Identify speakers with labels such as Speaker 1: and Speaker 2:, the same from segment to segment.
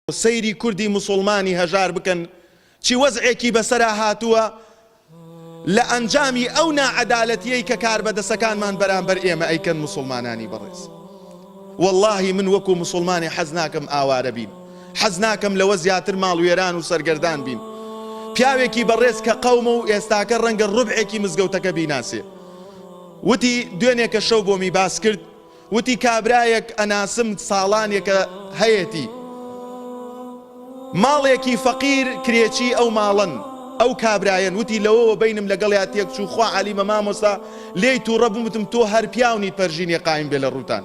Speaker 1: سەیری کوردی موسوڵمانی هەژار بکەن چی وەزعێکی بەسەرا هاتووە لە ئەنجامی ئەو ناعەدالەتیەی کە کاربەدەسەکانمان بەرامبەر ئێمە ئەیکەن موسوڵمانانی بەڕێز واللهی من وەکو موسوڵمانی حەز ناکەم ئاوارە بین حەز ناکەم لەوە زیاتر ماڵوێران و سەرگەردان بین پیاوێکی بەڕێز کە قەومە و ئێستاکە ڕەنگە ڕبعێکی مزگەوتەکە بیناسێ وتی دوێنێکە شەو بۆمی باس کرد وتی کابرایەک ئەناسم ساڵانێکە هەیەتی ماڵێکی فەقیر کرێچی ئەو ماڵەن ئەو کابرایەن وتی لەوەوە بینم لەگەڵیا تێک چوو خوا علیمە مامۆسا لێی تووڕە بوومتم تۆ هەر پیاونیت پەرژینێ قایم بێ لە ڕووتان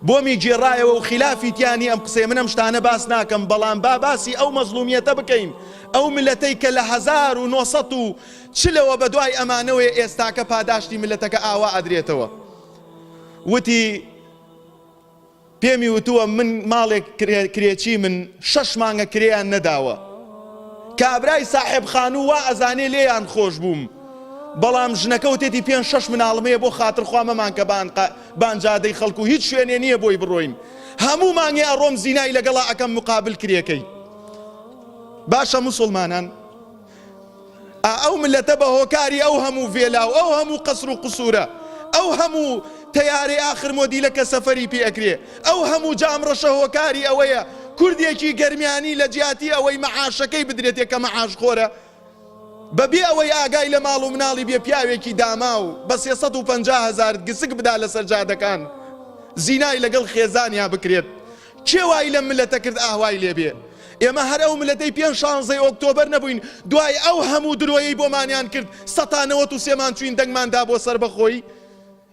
Speaker 1: بۆمی گێڕایەوە و خلافی تیانی ئەم قسەی منم شتانە باس ناکەم بەڵام با باسی ئەو مەزلومیەتە بکەین ئەو ملەتەی کە لە 1970 چ لەوە بەدوای ئەمانەوەیە ئێستاکە پاداشتی ملەتەکە ئاوا ئەدرێتەوە وتی پێمی وتووە من ماڵێک کرێچی من شەش مانگە کرێیان نەداوە کابرای ساحب خانوو وا ئەزانێ لێیان خۆش بووم بەڵام ژنەکە وتێتی پێ شەش مناڵم هەیە بۆ خاتر خوامەمان کە بانجادەی خەڵکو هیچ شوێنێ نییە بۆی بڕۆین هەموو مانگێ ئەڕۆم زینای لەگەڵا ئەەکەم مقابل کرێەکەی باشە مسلمانان ئا ئەو ملەتە بە هۆکاری ئەو هەموو ڤێلا و ئەو هەموو قەسر و قسورە ئەو هەموو تەیارەی ئاخر مۆدیلە کە سەفەری پێ ئەکرێ ئەو هەموو جام ڕەشە هۆکاری ئەوەیە کوردێکی گەرمیانی لە جیاتی ئەوەی مەعاشەکەی بدرێتێ کە مەعاش خۆرە بە بێ ئەوەی ئاگای لە ماڵ و مناڵی بێ پیاوێکی داماو بە سێ سەد و پەنجا هەزار گسک بدا لەسەر جادەکان زینای لەگەڵ خێزانیا بکرێت کێ وای لەم ملەتە کرد ئاه وای لێ بێ ئێمە هەر ئەو ملەتەی پێش شانزەی ئۆکتۆبەر نەبووین دوای ئەو هەموو درۆیەی بۆمانیان کرد سەتا نەوەت و سێمان چووین دەنگمان دا بۆ سەربەخۆیی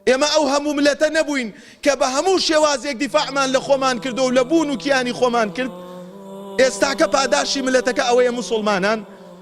Speaker 1: ئێمە ئەو هەموو ملەتە نەبووین کە بە هەموو شێوازێک دیفاعمان لە خۆمان کردو لە بوون و کیانی خۆمان کرد ئێستاکە پاداشی ملەتەکە ئەوەیە موسوڵمانان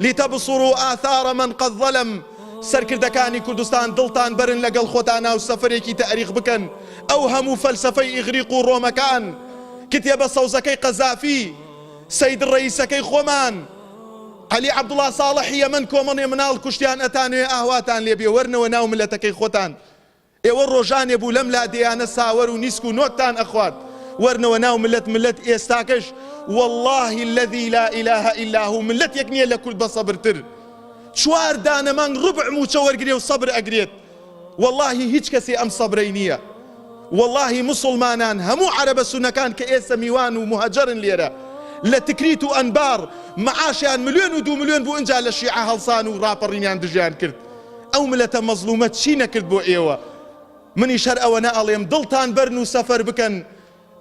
Speaker 1: لتبصروا آثار من قد ظلم سەرکردەکانی کوردستان دڵتان بەرن لەگەڵ خۆتان ناو سەفەرێکی تەئریخ بکەن ئەو هەموو فەلسەفەی ئیغریق و ڕۆمەکان کتێبە سەوزەکەی قەزافی سەید ڕەئیسەکەی خۆمان عەلی عەبدوڵا ساڵحی یەمەن کۆمەڵێ مناڵ کوشتیان ئەتانەوێ ئاهواتان لێ بێ وەرنەوە ناو ملەتەکەی خۆتان ئێوە ڕۆژانێ بوو لەم لادێیانە ساوەر و نیسک و نۆتتان ئەخوارد وەرنەوە ناو ملت ملت ئێستاکەش واللەهی اللەذی لا ئیلە ئیلا هو ملتێک نیە لە کورد بە سەبرتر چوار دانە مانگ ڕبع موچە وەرگرێ و سەبر ئەگرێت واللەهی هیچ کەسێ ئەم سەبرەی نیە واللەهی موسڵمانان هەموو عەرەبە سونەکان کە ئێستە میوان و موهەجەرن لێرە لە تکریت و ئەنبار معاشیان ملیۆن و دوو ملیۆن بوو ئینجا لە شیعە هەڵسان و ڕاپەڕینیان دژیان کرد ئەو ملەتە مەزلومە چی نەکرد بۆ ئێوە منیش هەر ئەوەنە ئەڵێم دڵتان بەرن و سەفەر بکەن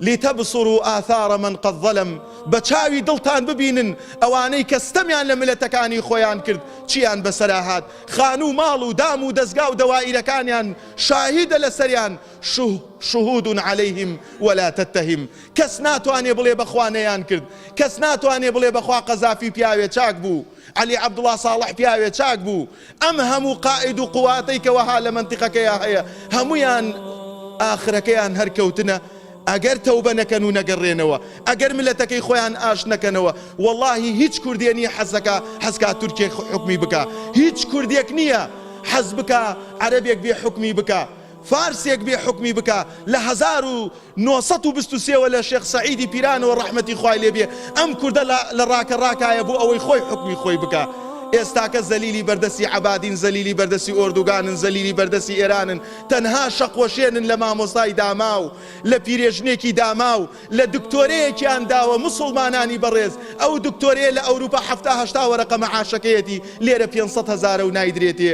Speaker 1: لتبصروا آثار من قد ظلم بە چاوی دڵتان ببینن ئەوانەی کە ستەمیان لە ملەتەکانی خۆیان کرد چیان بەسەرا هات خانوو ماڵ و دام و دەزگا و دەوائیرەکانیان شاهیدە لەسەریان شوه شهود عليهم ولا تتهم کەس ناتوانێ بڵێ بەخوا نەیان کرد کەس ناتوانێ بڵێ بەخوا قەزافی پیاوێ چاک بوو عەلی عەبدوڵا ساڵح پیاوێ چاک بوو، ئەم هەموو قائید و قواتەی کە وەها لە مەنتیقەکەیا هەیە هەموویان ئاخرەکەیان هەر کەوتنە ئەگەر تەوبە نەکەن و نەگەڕێنەوە ئەگەر ملەتەکەی خۆیان ئاشت نەکەنەوە وەڵاهی هیچ کوردێ نیە حەزەکا حەزکا تورکێک حوکمی بکا هیچ کوردێک نیە حەز بکا عەرەبێک بێ حوکمی بکا فارسێک بێ حوکمی بکا لە هەزار و نۆ سەد و بیست و سێ وە لە شێخ سەعیدی پیرانەوە ڕەحمەتی خوای لێ بێ ئەم کوردە لە لە ڕاکە ڕاکایە بۆ ئەوەی خۆی حوکمی خۆی بکا ئێستاکە زەلیلی بەردەسی عەبادین زەلیلی بەردەسی ئۆردوگانن زەلیلی بەردەسی ئێرانن تەنها شەق وەشێنن لە مامۆستای داماو لە پیرێژنێکی داماو لە دکتۆرەیەکیان داوە موسوڵمانانی بەڕێز ئەو دکتۆرەیە لە ئەوروپا حەفتا هەشتا وەرەقە مەعاشەکەیەتی لێرە پێنج سەد هەزارە و نایدرێتێ